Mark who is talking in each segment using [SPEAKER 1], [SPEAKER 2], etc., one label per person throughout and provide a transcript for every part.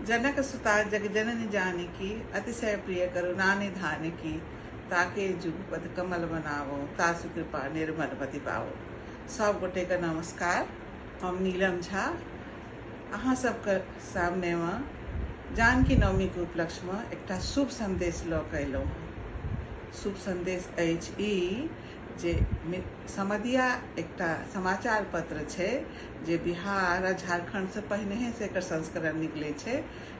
[SPEAKER 1] जनक सुता जगजननि जानकी अतिशय प्रिय करुणानि धानकी ताके जुगपद कमल बनावो तासु कृपा निर्मल मति पावो सब गोटे के नमस्कार हम नीलम झा अहाँ सबके सामने में जानकी नवमी के उपलक्ष्य में एकटा शुभ संदेश लऽ कऽ अयलहुँ हँ शुभ संदेश अछि ई जे समदिया एकटा समाचार पत्र छै जे बिहार आ झारखण्डसँ पहिनहेसँ एकर संस्करण निकलै छै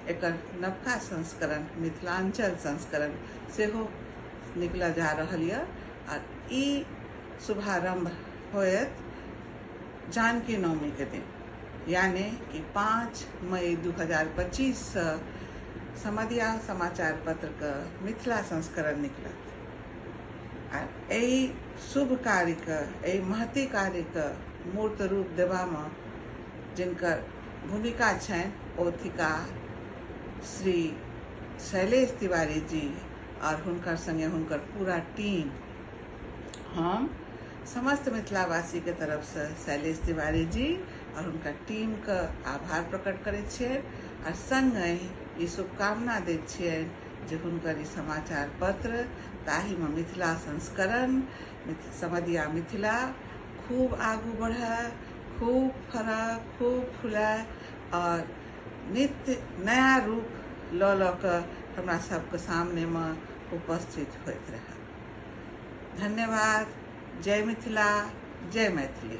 [SPEAKER 1] एकर नवका संस्करण मिथिलाञ्चल संस्करण सेहो निकलऽ जा रहल यऽ आ ई शुभारम्भ होयत जानकी नवमीके दिन यानि कि पाँच मई दू हजार पच्चीससँ समदिया समाचार पत्रके मिथिला संस्करण निकलत आ एहि शुभ कार्यके एहि महती कार्यके मूर्त रूप देबामे जिनकर भूमिका छनि ओ थिका श्री शैलेश तिवारी जी आओर हुनकर संगे हुनकर पूरा टीम हम समस्त मिथिलावासीके तरफसँ शैलेश तिवारी जी आओर हुनकर टीमके आभार प्रकट करैत छियनि आओर सङ्गहि ई शुभकामना दैत छियनि जे हुनकर ई समाचार पत्र ताहिमे मिथिला संस्करण समदिया मिथिला खूब आगू बढ़ए खूब फड़ए खूब फुलाए आओर नित्य नया रूप लऽ लऽ कऽ हमरा सबके सामनेमे उपस्थित होइत रहए धन्यवाद जय मिथिला जय मैथिली